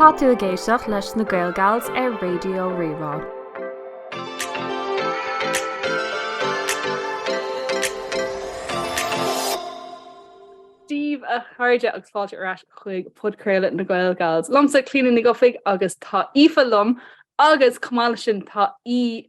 Tá tú ag éisteacht leis na Gaelgals ar Raidio Rí-Rá. Dia daoibh a chairde agus fáilte ar ais chuig podchraoladh na Gaelgals. Liomsa Clíodhna Nic Dhufaigh agus tá Aoife liom agus chomh maith leis sin tá Aoife.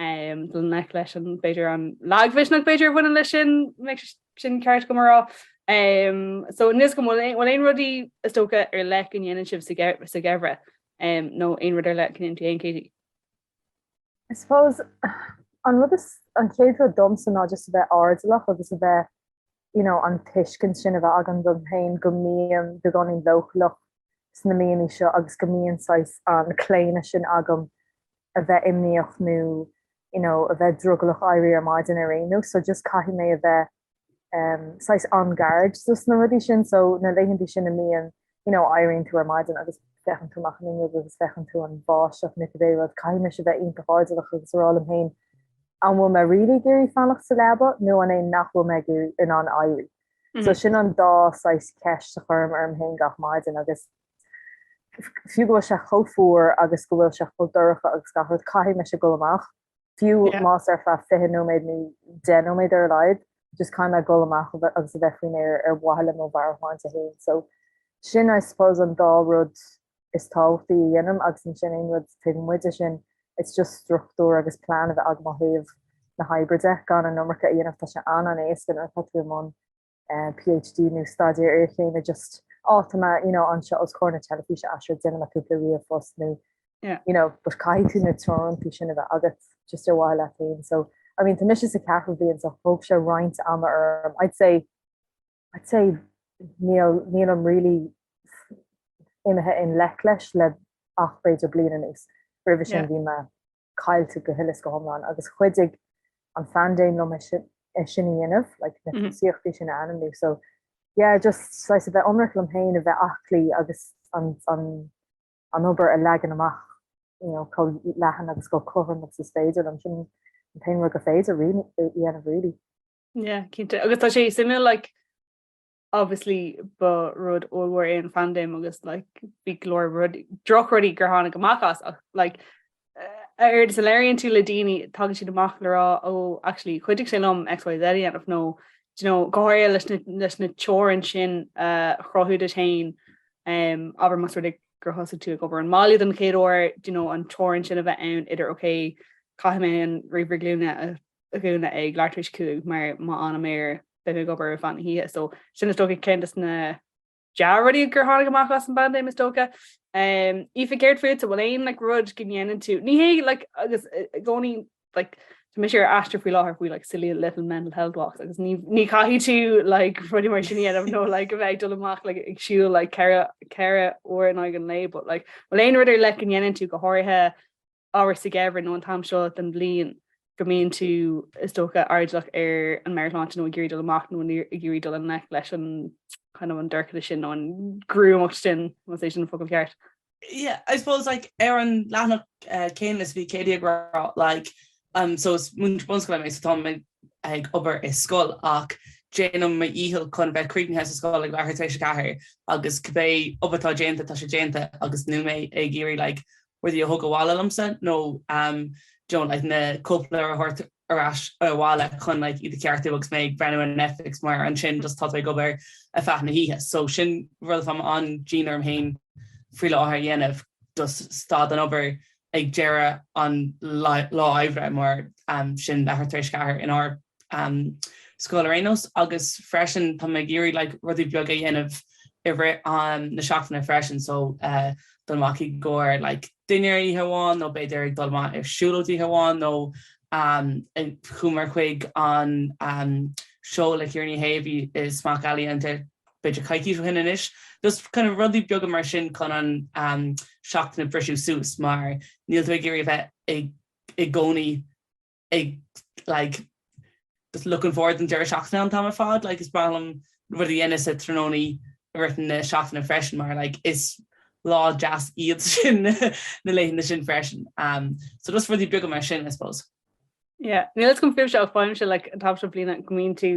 Dul i ngleic leis an, b'fhéidir, an lagmhisneach, b'fhéidir, a bhaineann leis sin, má tá sin ceart dom a rá. So, inis dom, an bhfuil aon rudaí, is dócha, ar leith a ndéanann sibh sa gheimhreadh, nó aon rud ar leith a dhéanann tú féin Katie? I suppose, an rud is, an chéad rud domsa ná just a bheith airdeallach agus a bheith you know an tuiscint sin a bheith agam dom féin go mbím beagáinín leochaileach sna míonna seo agus go mbíonn saghas an claonadh sin agam a bheith imníoch nó you know a bheith drogallach éirí ar maidin nó éirí in am so just caithfidh mé a bheith um, saghas on guard so na rudaí sin so na laethanta sin a mbíonn you know, éiríonn tú ar maidin agus féachann tú amach an fhuinneog agus feiceann tú an bháisteach nó cibé rud, caithfidh mise a bheith iontach airdeallach agus a rá liom féin an bhfuil mé really ag iarraidh fanacht sa leaba nó an é nach bhfuil mé i ndáiríre in ann éirí. So sin an dá saghas ceist a chuirim orm féin gach maidin agus fiú go bhfuil sé chomh fuar agus go bhfuil sé chomh dorcha agus gach rud, caithfidh mise dul amach. fiú más ar feadh 20 nóiméad nó 10 nóiméad ar a laghad, just kind of a dhul amach agus a bheith faoin aer ar mhaithe le mo mheabhairshláinte féin. So, sin, I suppose, an dá rud is tábhachtaí a dhéanaim, agus ansin aon rud taobh amuigh de sin, it's just struchtúr agus plean a bheith agam ó thaobh na hoibre de, gan an iomarca a dhéanamh, tá sé an-an-éasca nuair atá tú i mbun PhD nó staidéar iarchéime just ó tá mé you know anseo os comhair na teilifíse so déanfaidh mé cúpla ríomhphost nó yeah you know but caithfidh tú na teorainneacha sin a bheith agat just ar mhaithe leat féin so I mean tá mise sa cheathrú bliain so thóg sé roinnt ama orm I'd say I'd say níl níl mé really imithe i ngleic leis ach le b'fhéidir bliain anuas roimhe sin bhí mé caillte go huile is go hiomlán agus chuidigh an phaindéim liom é sin é sin a dhéanamh like na scíthe sin a ainmniú so yeah just saghas a bheith ionraic liom féin a bheith aclaí agus an an an obair a leagan amach you know chomh leathan agus chomh cothrom agus is féidir liom sin an t-aon rud gur féidir a dhéanamh really. Yeah, cinnte agus tá sé suimiúil like Obviously ba rud ollmhór é an phaindéim agus like bhí go leor rud, drochrudaí gur tháinig amach as ach like uaireanta labhraíonn tú le daoine tagann siad amach le rá ó actually chuidigh sé liom XYZ a dhéanamh nó you know, go háirithe leis na, leis na teorainn sin uh, chruthú duit féin um, abair más rud é gur thosaigh tú ag obair ón mbaile don chéad uair, you know, an teorainn sin a bheith ann idir ok, caithfidh mé an ríomhaire glúine a, a dhúnadh ag leathuair tar éis a cúig mar má fhanaim air bheith ag obair ar feadh na hoíche, so sin is dócha ceann des na dea-rudaí gur tháinig amach as an bpaindéim, is dócha. Aoife, céard fútsa, an bhfuil aon like rud go ndéanann tú, ní hé like agus i gcónaí like, tá mise ar aistear faoi láthair faoi like Silly Little Mental Health Walks agus ní chaithfidh tú like rudaí mar sin a dhéanamh nó like a bheith ag dul amach ag siúl like ceithre uair in aghaidh an lae, but like bhfuil aon rud ar leith go ndéanann tú go háirithe abair sa gheimhreadh nó an t-am seo den bhliain go mbíonn tú, is dócha, airdeallach ar an meabhairshláinte nó ag iarraidh dul amach nó ag iarraidh dul i ngleic leis an kind of, an dorchadas sin nó an gruamacht sin, más é sin an focal ceart. Yeah, I suppose, like, ar an leathanach céanna is bhí Katie ag rá, like, um, so is múinteoir bunscoile mé, so táim ag, ag obair i scoil ach déanaim mo dhícheall chun a bheith críochnaithe sa scoil ag leathuair tar éis a ceathair agus cibé obair atá déanta, tá sé déanta agus níl mé ag iarraidh, like, rudaí a thug abhaile liomsa nó you know like na cóipleabhair a thabhairt ar ais abhaile chun like iad a cheartú agus mé ag breathnú ar Netflix mar ansin just tá tú ag obair ar feadh na hoíche. So sin rud atáim an-dian orm féin faoi láthair a dhéanamh just stad den obair ag deireadh an lá oibre mar sin leathuair tar éis a ceathair inár scoil ar aon nós agus freisin tá mé ag iarraidh like rudaí beaga a dhéanamh i rith na seachtaine freisin so uh, dul amach i gcomhair like dinnéar oíche amháin nó b'fhéidir ag dul amach ar siúlóid oíche amháin nó chuamar chuig an seó le Ciara Ní É a bhí i Smock Alley an b'fhéidir coicís ó shin anois. Just kind of rudaí beaga mar sin chun an seachtain a bhriseadh suas mar níl tú ag iarraidh a bheith i gcónaí. ag like just looking forward don deireadh seachtaine an t-am ar fad. Like is breá liom rudaí a dhéanamh sa tráthnóna i rith na seachtaine freisin mar like is lá deas iad sin na laethanta sin freisin. Um so just rudaí beaga mar sin I suppose. Yeah, níl a fhios agam fúibhse, faighimse like an t-am seo bliana go mbíonn tú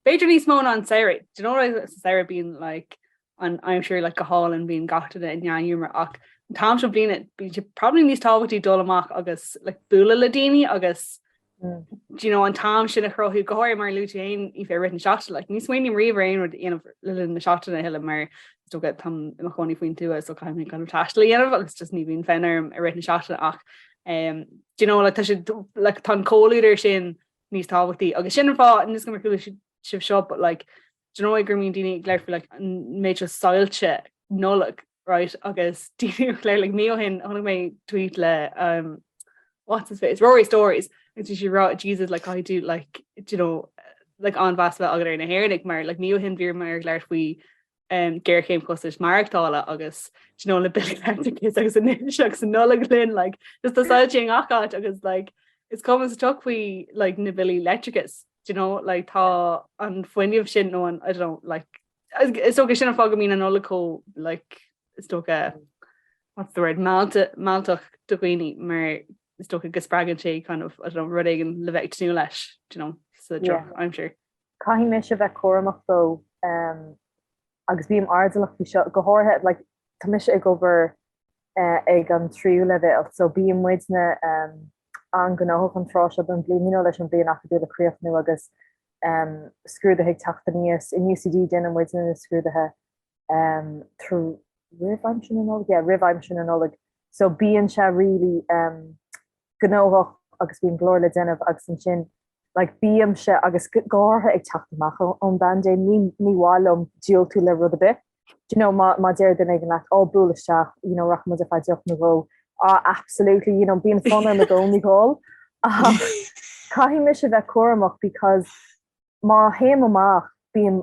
b'fhéidir níos mó ná an samhradh. Do you know like sa samhradh bíonn like an aimsir like go hálainn bíonn gach duine i ndea-ghiúmar ach an t-am seo bliana bíonn sé probably níos tábhachtaí dul amach agus like bualadh le daoine agus do you know an t-am sin a chruthú go háirithe mar a luaigh tú féin Aoife i rith na seachtaine like ní smaoiním riamh ar aon rud a dhéanamh le linn na seachtaine a thuilleadh mar is dócha táim i mo chónaí faoin tuath so caithfidh mé kind of taisteal a dhéanamh agus just ní bhíonn fonn orm i rith na seachtaine ach um, do you know like tá sé like tá an comhluadar sin níos tábhachtaí agus sin an fáth níl a fhios agam ar chuala sibh seo but like do you know go mbíonn daoine ag labhairt faoi like an méid seo soilse Nollag right agus daoine ag labhairt like mí ó shin chonaic mé tweet le um what's his face Rory Stories agus bhí sé ag rá Jesus like caithfidh tú like do you know like an-mheas a bheith agat ar na hÉireannaigh mar like mí ó shin bhíomar ag labhairt faoi um, géarchéim costais maireachtála agus you know, le billí leictreachais agus anois tá an Nollaig linn like, just tá soilse i ngach áit agus like, is cuma sa tsioc faoi like, na billí leictreachais. do you know, like tá an fuinneamh sin nó an, I don't know, like, is dócha sin an fáth go mbíonn an Nollaig chomh, like, is dócha, what's the word, meallta, mealltach do dhaoine mar is dócha go spreagann sé kind of, I don't know, rud éigin le bheith ag tnúth leis, do you know, so yeah, I'm sure. Caithfidh mise bheith cúramach so. agus bím airdeallach faoi seo, go háirithe like tá mise ag obair eh, ag an tríú leibhéal, so bíonn muidne em, an-ghnóthach an tráth seo don bhliain you know, leis an bliain acadúil a chríochnú agus em, scrúduithe ag teacht aníos. In UCD déanann muidne na scrúduithe em, tr- roimh aimsir na Nollag, yeah, roimh aimsir na Nollag. So bíonn sé really em, gnóthach agus bíonn go leor le déanamh agus ansin like bímse agus go háirithe ag teacht amach ón bpaindéim ní ní mhaith liom diúltú do rud ar bith do you know má má deir duine éigin leat ó buail isteach you know rachaidh muid amach faoi choinne deoch nó dhó á absolutely you know bíonn fonn orm i gcónaí a dhul ach caithfidh mise bheith cúramach because má théim amach bíonn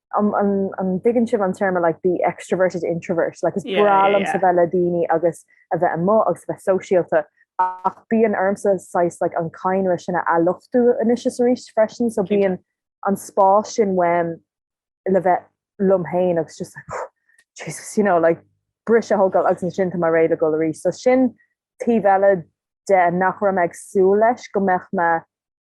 An, an, an dtuigeann sibh an téarma like the extroverted introvert? Like is Yeah, breá yeah, liomsa yeah. bheith le daoine agus a bheith amuigh agus a bheith sóisialta ach bíonn ormsa saghas like an cadhnra sin a athluchtú anois is arís freisin so Cinnte. bíonn an spás sin uaim le bheith liom féin agus just like Jesus you know like briseadh a thógáil agus ansin tá mé réidh le dul arís so sin taobh eile de nach raibh mé ag súil leis go mbeadh mé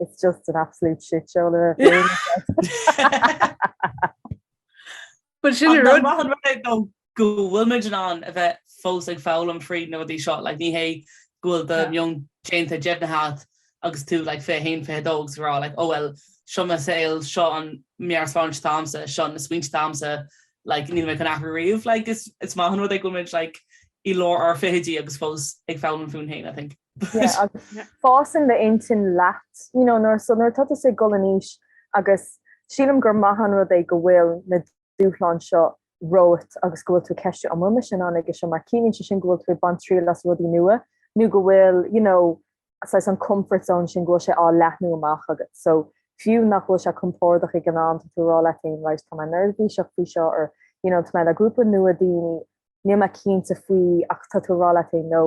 it's just an absolute shit show le But sin ar rud maithe rud é go go bhfuil muid in ann a bheith fós ag foghlaim faoi na rudaí seo, like ní hé go bhfuil do mheon déanta deimhnithe agat agus tú like fiche a haon fiche a dó agus ag rá like ó bhuel seo mo saol seo an mheabhairshláinte atá agamsa, seo na smaointe atá agamsa like níl mé chun athrú riamh like is is maith an rud é go bhfuil muid like i lár ár fichidí agus fós ag foghlaim fúinn fhéin I think. Fásann d'intinn leat nuair atá tú ag gol in aois agus sílim gur maith an rud é go bhfuil na dúshláin seo romhat agus go bhfuil tú ag ceistiú an bhfuil mise in ann ag seo mar ciallaíonn sé sin go bhfuil tú ag baint triail as rudaí nua nó go bhfuil you know saghas an comfort zone sin go bhfuil sé á leathnú amach agat so fiú nach bhfuil sé compordach ag an am tá tú ag rá leat féin right tá mé neirbhíseach faoi seo or you know tá mé le grúpa nua daoine níl mé cinnte faoi ach tá tú ag rá leat féin no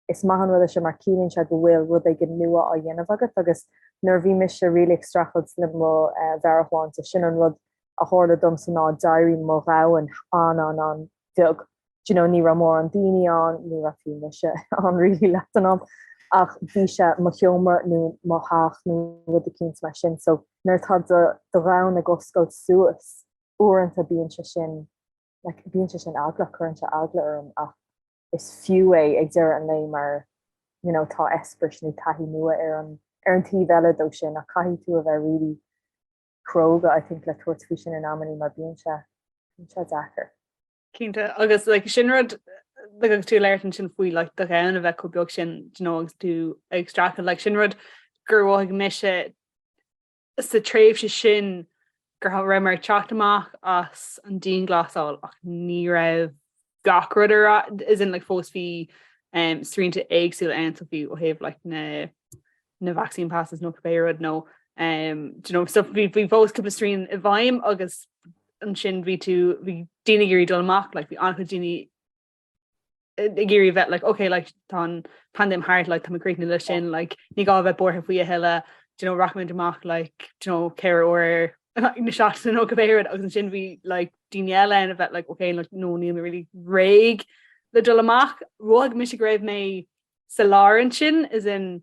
Is maith an rud é seo mar ciallaíonn sé go bhfuil rud éigin nua á dhéanamh agat agus nuair a bhí mise really ag streachailt le mo mheabhairshláinte, sin an rud a tharla domsa ná d'éirigh mo dhomhan an-an-an bheag. Do you know, ní raibh mórán daoine ann, ní raibh fiú mise ann really leath an am ach bhí sé mo sheomra nó mo theach nó rud eicínt mar sin so nuair atá do do dhomhan ag oscailt suas uaireanta bíonn sé sin like bíonn sé sin eagla, cuireann sé eagla orm ach is fiú é ag deireadh an lae mar you know tá eispéiris nó taithí nua ar an ar an taobh eile dó sin ach caithfidh tú a bheith really cróga I think le tabhairt faoi sin in amannaí mar bíonn sé bíonn sé deacair. Cinnte, agus like sin rud like agus tú ag labhairt ansin faoi like do dhomhan a bheith chomh beag sin you know agus tú ag streachailt like sin rud gur mhothaigh mise sa tréimhse sin gur raibh mé ag teacht amach as an dianghlasáil ach ní raibh gach rud ar as in like fós bhí um, srianta éagsúla ann so bhí ó thaobh like na na vaccine passes nó cibé rud nó um, you know, so bhí bhí fós cúpla srian i bhfeidhm agus ansin bhí tú bhí daoine ag iarraidh dul amach like bhí an-chuid daoine ag iarraidh bheith like, okay, like, tá an paindéim thart, like, tá mé críochnaithe le sin, like, ní gá bheith buartha faoi a thuilleadh, you know, rachaimid amach like, you know, ceithre uair na seachtaine nó cibé rud agus ansin bhí like, daoine eile ann a bhí like, okay, like, no níl mé really réidh le dul amach, mhothaigh mise go raibh mé sa lár ansin as in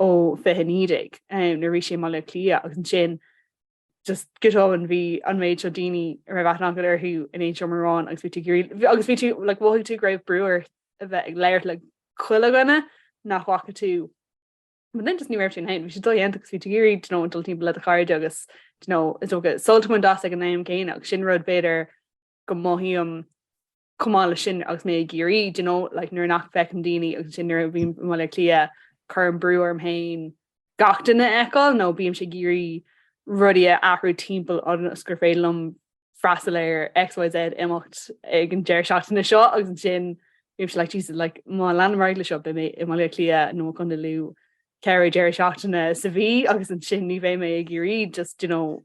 ó 2019 nuair a bhí sé i mBaile Átha Cliath agus ansin just go tobann bhí an méid seo daoine a raibh aithne acu orthu in aon seomra amháin agus bhí tú ag iarraidh agus bhí tú like mhothaigh tú go raibh brú ort a bheith ag labhairt le chuile dhuine nach bhfaca tú but then just ní raibh sin féin bhí sé dodhéanta agus bhí tú ag iarraidh you know dul timpeall le do chairde agus you know is dócha sult a bhaint as ag an am céanna agus sin rud b'fhéidir go mothaím chomh maith le sin agus mé ag iarraidh you know, like, nuair nach bhfeicim daoine agus ansin nuair a bhím i mBaile Átha Cliath cuirim brú orm féin gach duine a fheiceáil nó bímse ag iarraidh rudaí a athrú timpeall ionas gur féidir liom freastal ar XYZ imeacht ag an deireadh seachtaine seo agus ansin bímse like jeez like má leanaim ar aghaidh le seo beidh mé i mBaile Átha Cliath nó Contae Lú ceithre deireadh seachtaine sa mhí agus ansin ní bheidh mé ag iarraidh just you know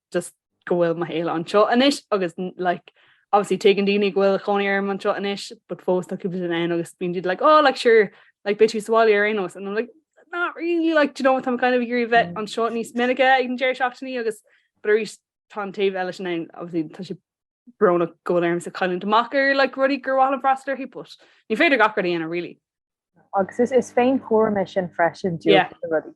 just go bhfuil mo shaol anseo anois agus like obviously tuigeann daoine go bhfuil cónaí orm anseo anois, but fós tá cúpla duine ann agus bíonn siad like, oh, like sure, like beidh tú sa bhaile ar aon nós, and I'm like, not really, like, do you know, táim kind of ag iarraidh bheith anseo níos minice ag an deireadh seachtaine agus but arís tá an taobh eile sin ann, obviously tá sé brónach go bhfuil ormsa cailliúint amach ar like rudaí gur mhaith liom freastal orthu, but ní féidir gach rud a dhéanamh really. Agus is is féinchúram é sin freisin, diúltú Yeah. do na rudaí.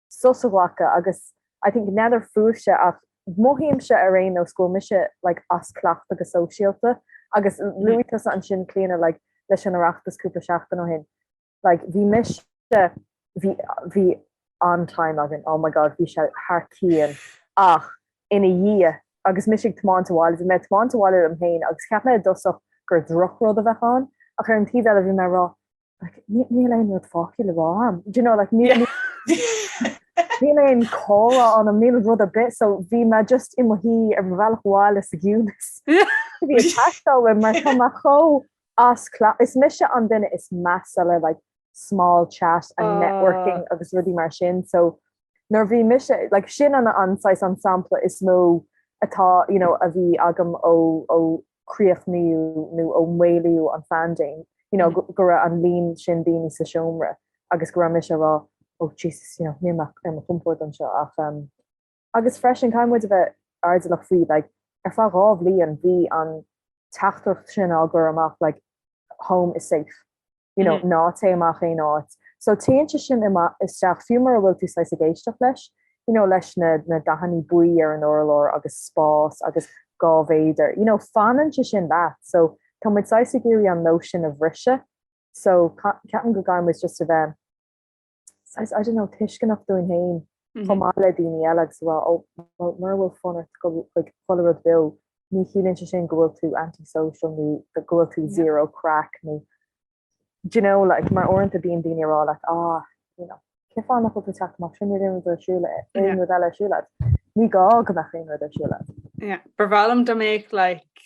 sos a ghlacadh agus I think n'fheadar fúibhse ach mothaímse ar aon nós go bhfuil mise like as cleachtadh go sóisialta agus luaigh tusa ansin Clíona like leis an Oireachtas cúpla seachtain ó shin like bhí mise bhí bhí an-time againn oh my god bhí sé thar cionn ach ina dhiaidh agus mise ag tiomáint abhaile bhí mé ag tiomáint abhaile liom féin agus cheap mé i dtosach gur drochrud a bheadh ann ach ar an taobh eile bhí mé ag rá Like, níl aon rud fágtha le rá agam. Do you know, like, níl, níl aon chomhrá ionam níl rud ar bith, so bhí mé just i mo shuí ar mo bhealach abhaile sa gciúnas. Bhí sé ag teastáil mar tá mé chomh as cla. Is mise an duine is measa le like, small chat and ah. networking uh. agus rudaí mar sin, so nuair a bhí mise like, sin an anois an sampla is mó atá you know, a bhí agam ó, ó críochnaíodh nó ó maolaíodh an phaindéim, you know, go raibh an líon sin daoine sa seomra agus go raibh mise ag rá, oh Jesus, you know, níl mé ar mo chompord anseo ach, um, agus freisin caithfidh muid a bheith airdeallach faoi, like, ar feadh dhá bhliain bhí an teachtaireacht sin á gcur amach, like, home is safe. you know, mm. ná té amach aon áit. So téann sé sin isteach fiú mura bhfuil tú saghas ag éisteacht leis, you know, leis na, na dathannaí buí ar an urlár agus spás agus dhá mhéadar. You know, fanann sé sin leat, so tá muid saghas ag iarraidh an nóisean a bhriseadh, so ceapaim go gcaithfidh muid just a bheith I don't know, tuisceanach dúinn féin chomh maith le daoine eile agus a rá, ó, bhuel, mura bhfuil fonn ort dul chuig chuile rud beo, ní chiallaíonn sé sin go bhfuil tú anti-social nó go bhfuil tú zero craic nó, do you know, like, mar uaireanta bíonn daoine ag rá leat, ah, you know, cén fáth nach bhfuil tú ag teacht amach, sin níl aon rud ar siúl, aon rud eile ar siúl agat. Ní gá go mbeadh aon rud ar siúl agam. Yeah, ba bhreá liom dá mbeadh, like,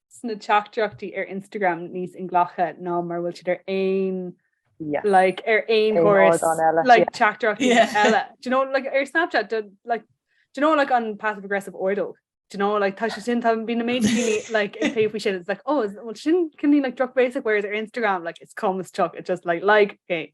sna teachtaireachtaí ar Instagram níos inghlactha ná mar bhfuil siad ar aon yeah. like ar aon chorus like yeah. chapter yeah. Ella do you know like ar Snapchat do, like do you know like on passive aggressive ordo do you know like touch sin have been amazing like in pay shit it's like oh well shin can you like drop basic whereas their Instagram like it's calm as chuck it's just like like hey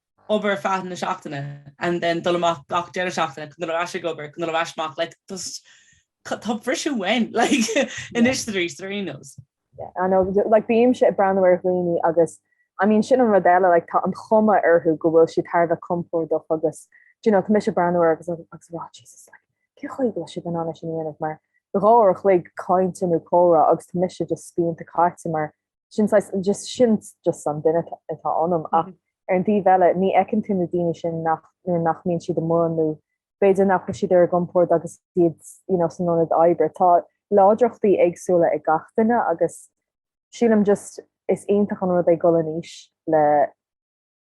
obair ar feadh na seachtaine and then dul amach gach deireadh seachtaine chun dul ar ais ag obair, chun dul ar ais amach, like just tá briseadh uainn like anois is arís ar nós. Yeah I know like bímse ag breathnú ar dhaoine agus I mean sin an rud eile like tá an chuma orthu go bhfuil siad thar a bheith compordach agus do you know tá mise ag breathnú air agus ag rá Jesus like cén chaoi go bhfuil siad in ann é sin a dhéanamh mar dhá uair a chloig cainte nó comhrá agus tá mise just spíonta caite mar sin saghas just sin just an duine atá ionam ach ar an taobh eile ní fheiceann tú na daoine sin nach nuair nach mbíonn siad amuigh nó b'fhéidir nach bhfuil siad ar a gcompord agus iad you know san ionad oibre tá láidreachtaí éagsúla ag gach duine agus sílim just is iontach an rud é dul in aois le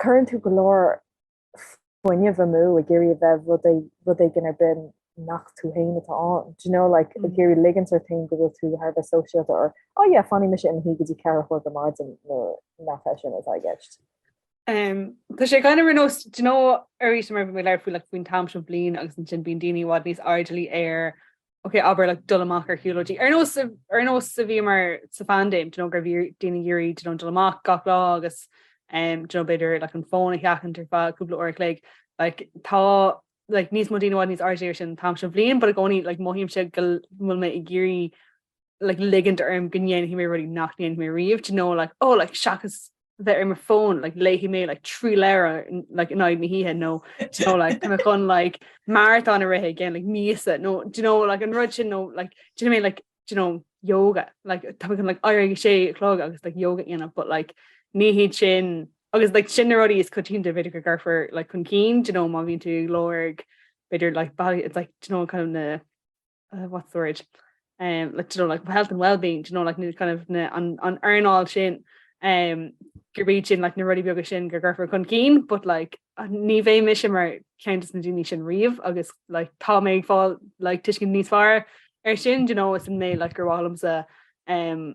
Cuireann tú go leor fuinnimh amú ag iarraidh a bheith rud é, rud éigin ar bith nach tú féin atá ann. Do you know, like, ag iarraidh ligint ort féin go bhfuil tú thar a bheith sóisialta or, oh yeah, fanfaidh mise ina shuí go dtí ceathair a chlog ar maidin nuair nach é sin atá i gceist. Um, tá sé kind of ar nós, do you know, arís mar bhí mé ag labhairt faoi, like, faoin t-am seo bliain agus ansin bíonn daoine i bhfad níos airdeallaí ar Ok, abair like dul amach ar shiúlóidí. Ar nós, ar nós a bhíomar sa phaindéim, do you know, go raibh daoine ag iarraidh, do you know, dul amach gach lá agus um, do you know, b'fhéidir like an fón a sheachaint ar feadh cúpla uair a chloig. Like, tá like, níos mó daoine i bhfad níos airde ar sin an t-am sin den bhliain, but i gcónaí like, mothaímse go bhfuil mé ag iarraidh like, ligint orm go ndéanfaidh mé rudaí nach ndéanfaidh mé riamh, do you know, like, oh, like, seachas bheith ar mo fón like, léhí mé like, trí lera like, in na hithe nó you know, like, me chun like, marathon a rithe gin like, mísa nó you know, like, an rud sin nó like, do you know, like, you know, yoga like, tá chun like, air sé chlog agus like, yoga ana but like, ní hiad sin agus like, sin rodí is cotín de viidir go garfur like, chun cín you know, má vín tú log beidir like, bag, it's like, you know, kind of na uh, what's the word? Um, like, you know, like health and well-being, you know, like kind of na, an, an earnáil sin um, gur bíd sin like, na rudí beaga sin gur ggurfar chun cín, but like, ní bhéh mis sem mar ceantas na daine sin riomh agus like, tá mé ag fáil like, tuiscin níos fear ar sin, you know, is in mé like, gur bhhalamsa um,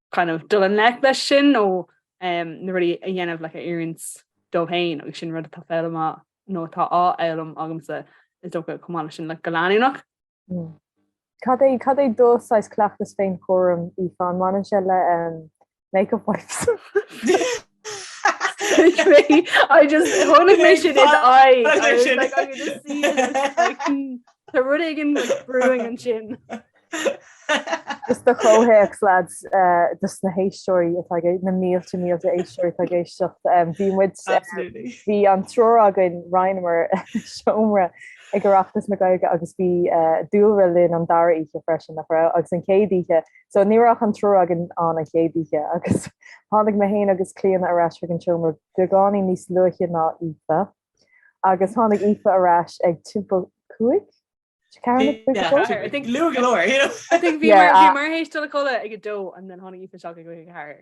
kind of dul i ngleic leis sin nó na rudaí a dhéanamh like, a oiriúint dó féin agus sin rud atá féilte má nó atá á fhoghlaim agamsa is dócha chomh maith le sin like go leanúnach. Mm. Cad é cad é do shaghas cleachtas féinchúram Aoife an mbaineann sé le um, make-up wipes. I just tháinig mé sin in I was like, I'm gonna see this, like, hmm, tá rud éigin like, brewing ansin. Just do chomhthéacs lads eh, dos na héisteoirí atá ag- na mílte mílte éisteoirí atá ag éisteacht. Em, Bhí muid eh, Absolutely. bhí an triúr againn roinneamar seomra ag Oireachtas na Gaeilge agus bhí eh, dúlra linn an dara oíche freisin nach raibh agus an chéad oíche So ní raibh ach an triúr againn ann an chéad oíche agus tháinig mé féin agus Clíona ar ais chuig an seomra beagáinín níos luaithe ná Aoife agus tháinig Aoife ar ais ag timpeall cúig? Luath go leor! Bhíomar théis dul a chodladh ag a dó and then tháinig Aoife isteach ag a haoir.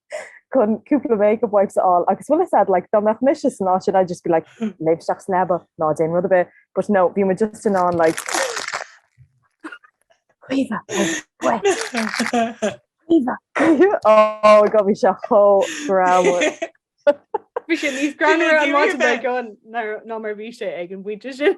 chun cúpla makeup wipes a fháil agus bhfuil a fhios a'd like dá mbeadh mise ansin I'd just be like léim isteach sa leaba ná déan rud ar bith, but no bhí mé just in ann like oh go bhí sé chomh ra. Bhí sé níos gran ná mar bhí sé ag an bhuiide sin.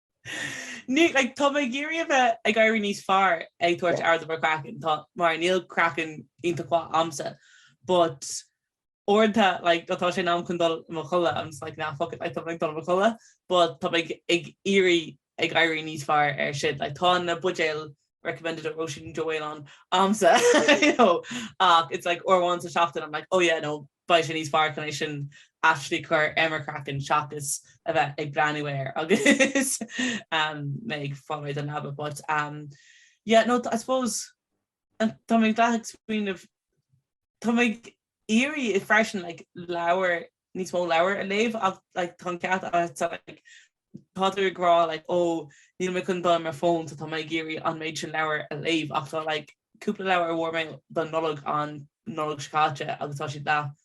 Ní, like, tá mé ag iarraidh a bheith ag éirí níos fearr ag tabhairt aird ar mo chraiceann, tá, mar níl craiceann iontach mhaith a'msa, but uaireanta, like, nuair atá sé in am chun dul i mo chodladh, I'm just like, nah, fuck it, like, tá mé ag dul i mo chodladh, but tá mé ag iarraidh a bheith ag éirí níos fearr air sin, like, tá na buidéil recommended ag Róisín Joe Whale ann a'msa, you know, ach it's like uair amháin sa seachtain, I'm like, oh yeah, no, beidh sé níos fearr chun é sin actually cur ar mo chraiceann seachas a bheith ag breathnú air agus mé ag fáil don leaba but um yeah no I suppose tá mé ag like ag smaoineamh tá mé ag iarraidh freisin like leabhar níos mó leabhar a léamh ach like tá an cat so like tá tú ag rá like ó níl mé chun dul ar mo fón so tá mé ag iarraidh an méid sin leabhar a léamh ach tá like cúpla leabhar a bhfuair mé don Nollaig an Nollaig seo caite agus tá siad leath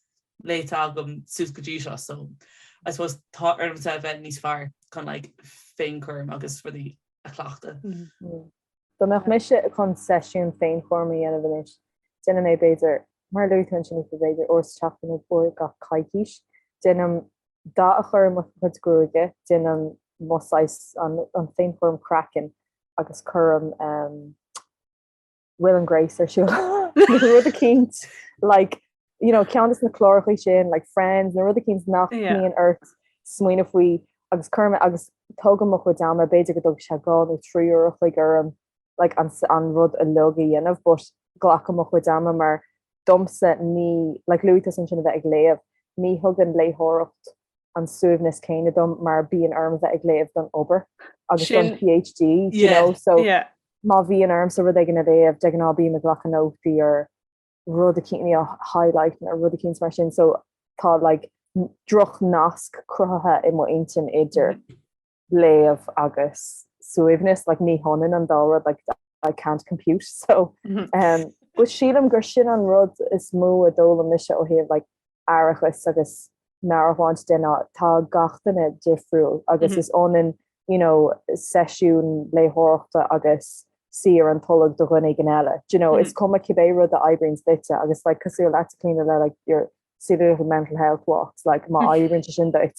léite agam suas go dtí seo so I suppose tá ormsa a bheith níos fearr chun like féinchúram agus rudaí a chleachtadh. Dá mbeadh mise chun seisiún féinchúraim a dhéanamh anois, déanaim é, b'fhéidir, mar a luaigh tú ansin, Aoife, b'fhéidir uair sa tseachtain nó uair gach coicís, déanaim dath a chur i mo chuid gruaige, déanaim mo saghas, an féinchúram craicinn agus cuirim Will and Grace ar siúl nó rud eicínt, like. you know, ceann de na cláracha sin, like Friends, nó rud éicint nach mbíonn ort smaoineamh faoi agus is cuma agus tógaim mo chuid ama b'fhéidir go dtógfaidh sé dhá nó trí uair an chloig orm like, an, an rud uilig a dhéanamh, but glacaim mo chuid ama mar domsa ní like, luaigh tusa ansin a bheith ag léamh, ní thugann léitheoireacht an suaimhneas céanna dom mar bíonn orm a bheith ag léamh don obair agus don PhD, yeah, you know, so yeah. má bhíonn ormsa rud éigin a léamh de ghnáth bím ag glacadh nótaí ar rud éicint, you know, highlight nó rud éicint mar sin so tá like droch-nasc cruthaithe i mo intinn idir mm-hmm. léamh agus suaimhneas like ní hionann an dá rud like I can't compute so mm-hmm. um, But sílam gur sin an rud is mó a d'fhoghlaim mise ó thaobh like aireachais agus meabhairshláinte de ná tá gach duine difriúil agus is ionann you know seisiún léitheoireachta agus suí ar an tolg do dhuine éigin eile. Do you know, is cuma cibé rud a oibríonns duitse agus like cosúil leatsa, Clíona le like your silly little mental health walks like má oibríonn sé sin duit.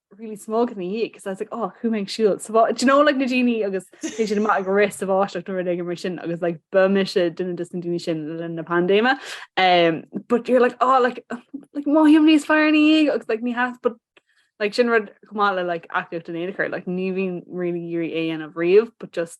really smog in the year because I was like oh who makes shields so do you know like Nadini agus they should not rest of Ash like Nordic immersion I was like Burmisha didn't distinction in the pandemic um but you're like oh like like more human is fire any agus like me has but like sin rud komala like active in her like nivin really yuri a and of reeve but just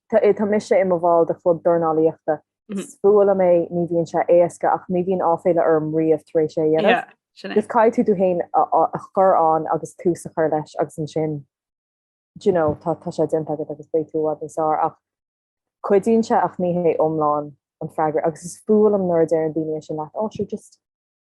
Tá mise i mo bhall de chlub dornálaíochta. Is fuath liom é, ní bhíonn sé éasca ach ní bhíonn áiféala orm riamh tar éis é a dhéanamh. Agus caithfidh tú tú féin a chur ann agus tús a chur leis agus ansin you know tá sé déanta agat agus beidh tú i bhfad níos fearr. Ach cuidíonn sé ach ní hé iomlán an freagra agus is fuath liom nuair a deireann daoine sin leat, 'Ó sure just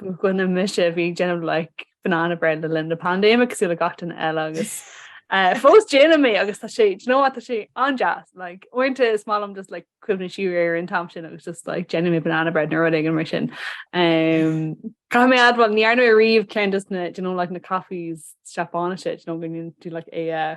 Go gcoinne mise bhí ag déanamh like banana bread le linn na pandéime cosúil le gach duine eile agus eh, fós déanaim é agus tá sé you know tá sé an-deas like uaireanta is maith liom just like cuimhneamh siar ar an t-am sin agus just like déanaim é banana bread nó rud éigin mar sin. Caithfidh mé a admháil ní dhearna mé riamh ceann de na you know like na cafés Seapáinise you know go tú like é eh,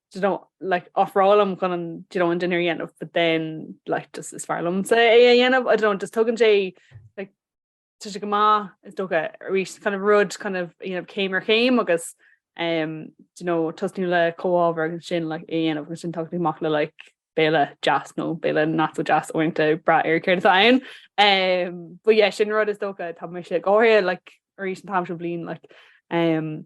do you know, like ofrálaim chun an do you know, an dinnéar a dhéanamh but then like just is fearr liomsa é a dhéanamh, I don't know, just tugann sé like tá sé go maith is dócha arís kind of rud kind of you know, céim ar chéim agus um, do you know, tosnú le comhábhar agus ansin like, é a dhéanamh agus ansin tagann tú amach le like, béile deas nó béile not so deas uaireanta ag brath ar céard atá ann. Um, but yeah, sin rud is dócha tá mise go háirithe like, arís an t-am seo bliana like, um,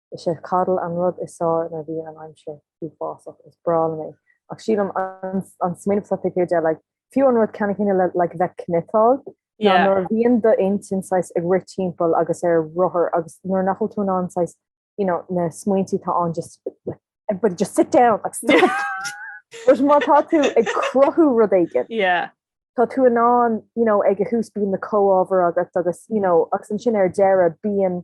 Is é cuddle an rud is fearr nuair a bhíonn an aimsir uafásach. Is breá liom é. Ach sílim an smaoineamh seo taobh thiar de, like, fiú an rud ceannann céanna le, like, bheith ag cniotáil, ná nuair a bhíonn d'intinn saghas ag rith timpeall agus ar rothar agus nuair nach bhfuil tú in ann saghas, you know, na smaointí atá ann just, like, everybody just sit down, like, stop! Whereas má tá tú ag cruthú rud éigin, tá tú in ann, you know, ag a thús bíonn na comhábhair agat agus, you know, agus ansin ar deireadh bíonn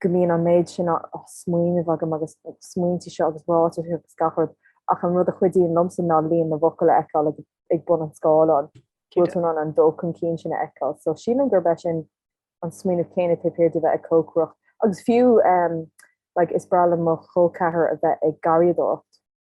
go mbíonn an méid sin á smaoineamh agam agus na smaointe seo agus ráitis agus gach rud ach an rud a chuidíonn liomsa ná líon na bhfocal a fheiceáil ag bun an scáileáin. Bhfuil tú in ann an dul chun cinn sin a fheiceáil? So sílim gurb é sin an smaoineamh céanna taobh thiar de bheith ag cócaireacht agus fiú like, is breá le mo chol ceathrair a bheith ag garraíodóireacht.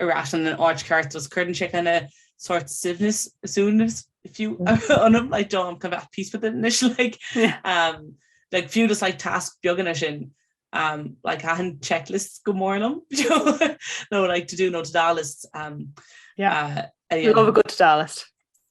ar ais in an áit cheart agus cuireann sé kind of sort suaimhneas, suaimhneas, fiú, ionam, like, do, I'm kind of at peace with it anois, like, um, like, fiú just, like, tasc beaganna sin, um, like, thaitin checklists go mór liom, no, like, to do no to-do lists, um, yeah, uh, anyway. Love a good to-do list.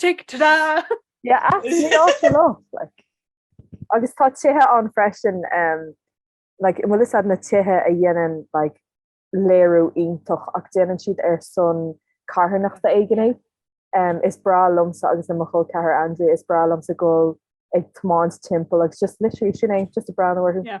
Tig trá! Yeah, absolutely. Ní áit eile, like. Agus tá tithe ann freisin, um, like, bhfuil is na tithe a dhéanann, like, léiriú iontach, ach déanann siad ar son carthanachta éigin é. Um, is breá liomsa agus le mo chol ceathrair Andrea, is breá liomsa gabháil ag tiomáint timpeall agus just literally sin é, just ag breathnú orthu. Yeah.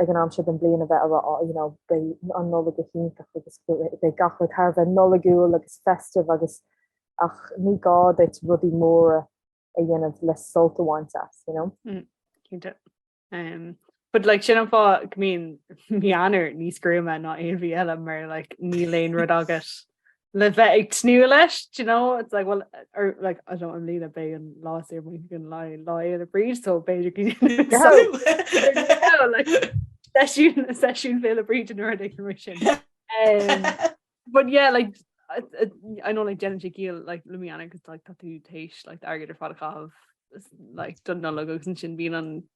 ag an am seo den bhliain a bheith ag rá, you know, beidh an Nollaig go hiontach agus beidh gach rud thar a bheith Nollaigiúil agus festive agus, ach ní gá duit rudaí móra a dhéanamh le sult a bhaint as, you know. Mm, cinnte. Um, but like sin an fáth go mbíonn mí Eanáir níos gruama ná aon mhí eile mar like níl aon rud agat. le bheith ag tnú leis you know it's like well or er, like I don't I'm leaning bay and last year we can lie lie in a breeze so basically so, yeah, like session session fail a breed in her commission um, but yeah like I, I, I know like Jen Gil like Lumiana cause like tattoo taste like I get her fat of like done no logos and shin being on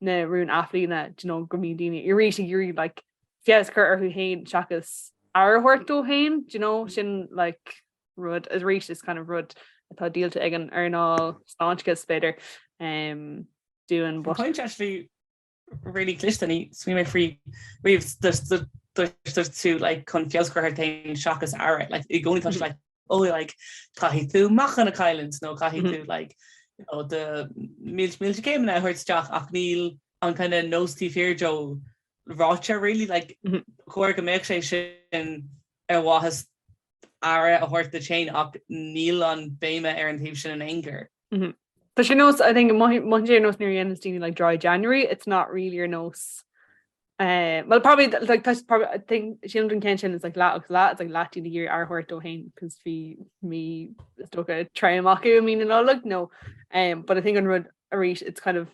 na rúin athbhliana do you know go mbíonn daoine arís ag iarraidh like feabhas a chur orthu fhéin seachas aire a thabhairt dóibh fhéin do you know sin like rud arís is kind of rud atá díolta ag an earnáil sláinte is b'fhéidir um, domsa but point actually really cliste níor smaoinigh mé faoi riamh deirtear leat like chun feabhas a chur ort fhéin seachas aire like i gcónaí tá sé like oh like caithfidh tú meáchan a chailliúint nó caithfidh tú like you know do míle míle céimeanna a thabhairt isteach ach níl an kind of nós taobh thiar dó ráite really like chóir go mbeadh sé sin ar mhaithe le aire a thabhairt duit féin ach níl an bhéim ar an taobh sin in aon chor. Mm-hmm. Tá sé nós I think muin sé nós nuair dhéanamh daoine like dry January, it's not really your nose. Uh, well probably like that's probably I think she don't can sin is like la agus la it's like latin the year ar hort do hain because fi me stoka try maku I mean in all like no um but I think on rud a reach it's kind of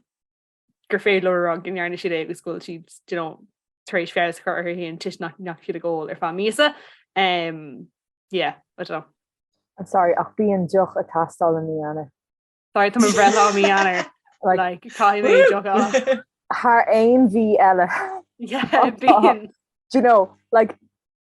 gur féidir leo a rá go ndearna siad é agus go bhfuil siad tar éis feabhas a chur orthu féin toisc nach raibh siad ag ól ar feadh míosa. Yeah, I don't know. I'm sorry, ach bíonn deoch ag teastáil i mí Eanáir. Sorry, tá mo bhreithlá i mí Eanáir. Like, caithfidh mé deoch. Thar aon mhí eile. Yeah, bíonn. Do you know, like,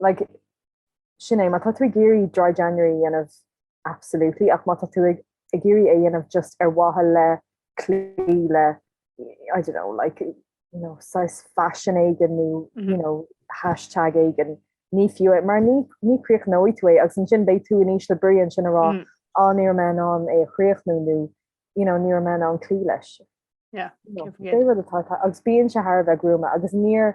Like, sin é, má tá tú ag iarraidh Dry January a dhéanamh, absolutely, ach má tá tú ag ag iarraidh é a dhéanamh just ar mhaithe le cloí le, I don't know, like, you know, saghas faisin éigin nó, you know, hashtag éigin, ní fiú é, mar ní ní críochnóidh tú é, agus ansin beidh tú in ísle brí ansin ag rá, á, ní raibh mé in ann é a chríochnú nó, you know, ní raibh mé in ann cloí leis. Yeah, You know, can't forget. cé rud atá tá- agus bíonn sé thar a bheith gruama agus níor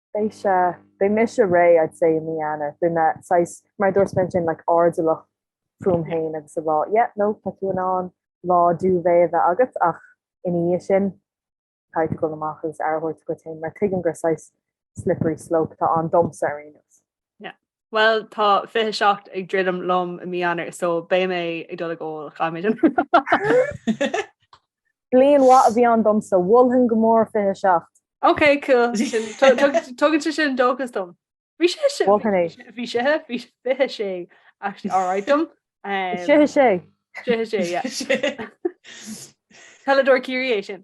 Beidh sé, beidh mise réidh I'd say i mí Eanáir, beidh mé saghas mar a dúirt mé ansin like airdeallach fúm fhéin agus ag rá yeah no tá tú in ann lá duvet a bheith agat ach ina dhiaidh sin caithfidh tú dul amach agus aire a thabhairt duit fhéin mar tuigim gur saghas slippery slope atá ann domsa ar aon nós. Bhuel, tá 27 ag druidim liom i mí Eanáir, so beidh mé ag dul go, chaith mé sin. Bliain mhaith a bhí ann domsa, mholfainn go mór 27. Ok, cool. Tugann sé sin dóchas dom. Bhí 26, mholfainn é. Bhí 26 actually alright dom. 26. 26, yeah. Peileadóir Ciarraí é sin.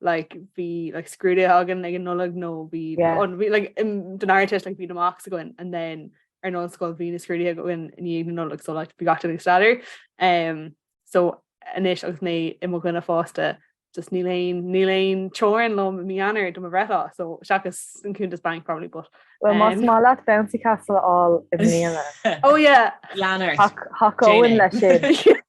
like bhí like scrúduithe againn ag an Nollaig nó bhí don Ardteist like bhí na mocks againn and then ar an ollscoil bhí na scrúduithe againn i ndiaidh na Nollag so like bhí gach duine ag staidéar um so anois agus mé i mo dhuine fásta just níl aon níl aon teorainn liom i mí Eanáir do mo bhreithlá so seachas an cuntas bainc probably but Well más maith leat bouncy castle a fháil i mbliana. Oh yeah. Lean ort. Thac- Thacóinn Jane. le sin.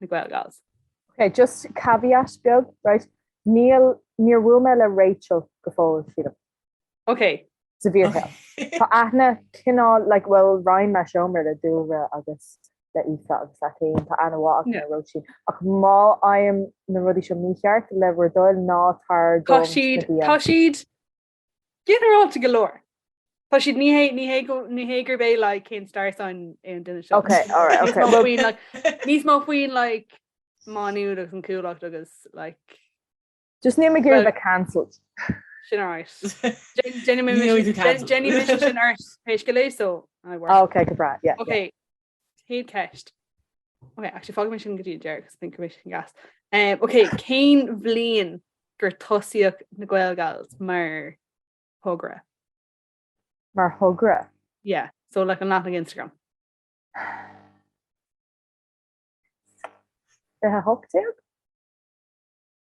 na Gaelgals. Ok, just caveat beag, right, níl, níor bhuail mé le Rachel go fóill, sílim. Ok. sa bhfíorshaol. Tá aithne cineál, like, bhuel, roinn mé seomra le Dúlra agus le Aoife agus leat fhéin, tá aithne mhaith agam ar Róisín, ach má fhaighim na rudaí seo mícheart, le bhur dtoil, ná tar dom na bia. Tá siad, tá siad, Ginearálta go leor. Tá siad ní hé ní hé go ní hé gurb é le cén star sign é an duine seo. Okay, all right, okay. Well, faoin, like, níos mó faoin like, meon agus an chúlacht agus like, just ní mé gurb Well- é cancelled. sin áit. Jenny Níl tú cancelled. Déanann mise an art péist go léir so. Ah, okay, go breá, yeah. yeah. Okay. Cén ceist? Ok, actually fágfaidh mé sin go dtí an deireadh, 'cause I think go mbeidh siad an-deas. Um, ok, cén bhliain gur tosaíodh na Gaelgals mar thogra? Mar thogra? Yeah, so like an leathanach Instagram. 2018?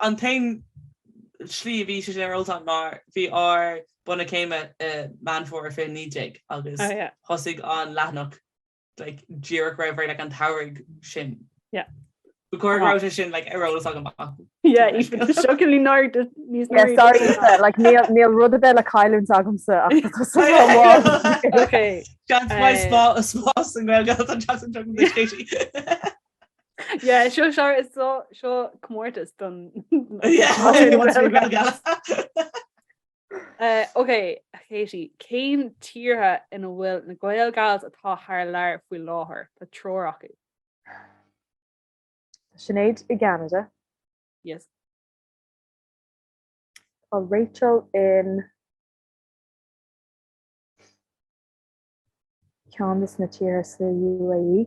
An t-aon slí a bhí sé sin ar eolas agam ná bhí ár bunadh céime i Meán Fómhair 2019 agus thosaigh an leathanach díreach roimh ré like an tsamhraidh sin. Ba chóir go raibh sé sin ar eolas agam acu. Níl rud ar bith le cailliúint agamsa ach tá cosúil le amháin. Seans mhaith is mó an spás i nGaeilge atá an teacht anseo, Katie. seo sure is seo comórtas don Ok, Katie, cén tíortha ina bhfuil na Gael Gals atá thar lear faoi láthair? Tá triúr acu. Sinéad i gCeanada. Yes. Tá Rachel in ceann de sna tíortha sa UAE.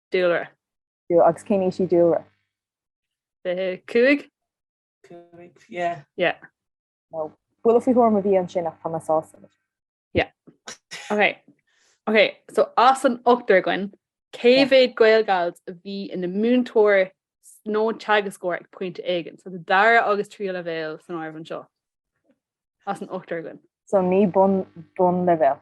dúlra. Dúlra, agus cén aois í Dúlra? 25? 25, yeah. Yeah. No. Buille faoi thuairim a bhí ansin ach tá mé sásta leis. Yeah. Ok. Ok, so as an ochtar againn, cé mhéad Gaelgals a bhí ina múinteoir nó teagascóir ag pointe éigean, so do dara agus tríú leibhéal san áireamh anseo? As an ochtar againn. So ní bun, bun leibhéal.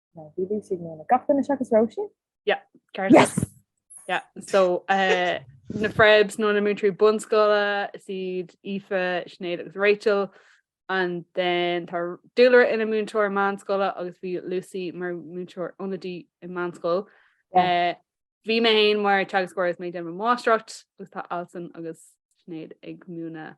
No, Lucy Gach duine seachas Róisín? Yeah, ceart. Yes! Yeah, so uh, na Frebs nó na múinteoirí bunscoile is iad Aoife, Sinéad agus Rachel and then tá Dúlra ina múinteoir meánscoile agus bhí Lucy mar múinteoir ionadaí i meánscoil. Yeah. Eh, Bhí mé féin mar teagascóir is mé ag déanamh mo máistreacht agus tá Alison agus Sinéad ag múineadh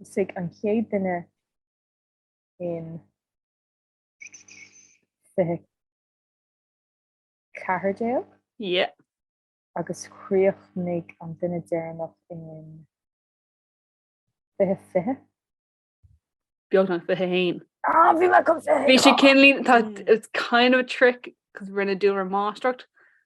Thosaigh an chéad duine in 2014. Yep. Agus chríochnaigh an duine deireanach in 2020. Beagnach 21. Ah, bhí mé chun 21! Bhí sé cinn lín, tá, it's kind of a trick, cos rinne Dúlra máistreacht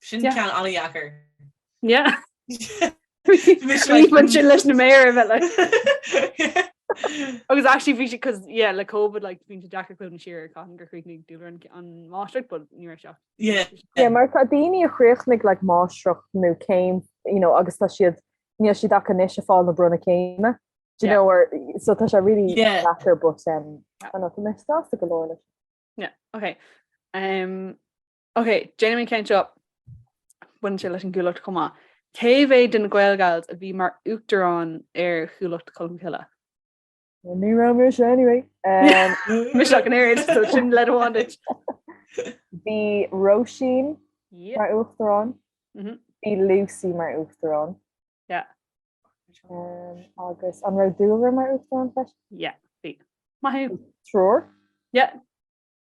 Sin ceann an-dheacair. Bhí sé leis na méara a bheith le. Agus actually bhí sé cos yeah like COVID like bhí sé deacair cuimhneamh siar cathain a chríochnaigh Dúlra an máistreacht but ní raibh seach. Yeah mar tá daoine a chríochnaigh like máistreacht nó céim you know agus tá siad níl siad ach anois ag fáil na bronnadh céime do you know or so tá sé really deacair but um tá mé sásta go leor leis. Yeah, okay. Um, Ok, déanaimis an ceann seo. Baineann sé leis an gCuallacht chomh maith. Cé mhéad de na Gaelgals a bhí mar uachtarán ar Chuallacht Cholmcille? Ní raibh mise anyway. Mise ach an oiread, so sin leid amháin duit. Bhí Róisín mar uachtarán. Mhm. Bhí Lucy mar uachtarán. Yeah. Agus an raibh Dúlra mar uachtarán freisin? Yeah, bhí. Maith thú. Triúr? Yeah.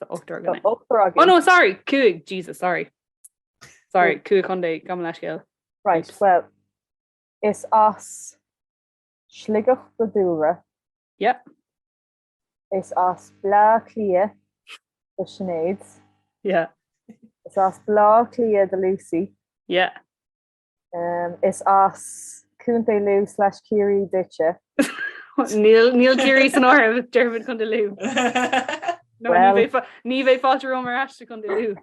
Tá ochtar againn. Ochtar againn. Oh no, sorry, cúig, Jesus, sorry. Sorry, cúig chontae, gabh mo leithscéal. Right, well, is as Sligeach do Dúlra. Yep. Is as Bleá Cliath do Sinéad. Yeah. Is as Bleá Cliath do Lucy. Yeah. Is as Contae Lú slash Ciarraí duitse. Níl Ciarraí san áireamh, déarfaimid Contae Lú. Ní bheidh fáilte romham ar ais sa Contae Lú.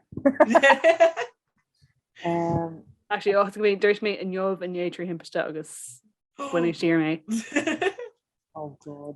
Actually, áit go mbeidh dúirt mé inniu inné trí thimpiste agus baineadh siar mé. Oh God.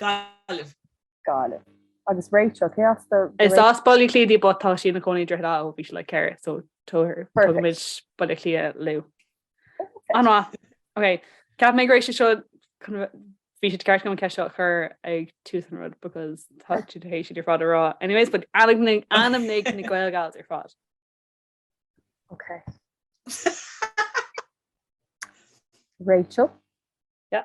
Gaillimh. Gaillimh. Agus Rachel, cé as di? Is as Baile Átha Cliath di but tá sí ina cónaí i Droichead Átha ó bhí sí like ceathair so tabhair tugaimid Baile Átha Cliath Lú. An-mhaith. Ok. Cheap mé go raibh sé seo bhí sé ceart go an ceist seo chur ag tús an rud because tá tú tar éis iad ar fad a rá. Anyways but ainmnigh ainmnigh na Gael Gals ar fad. Ok. Rachel? Yeah.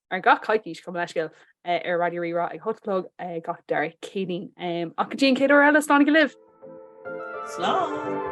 Ar gach coicís, chomh maith le Scil ar Raidió Rí-Rá ag a hocht a chlog gach dara Céadaoin. Ach go dtí an chéad uair eile, slán go libh! Slán!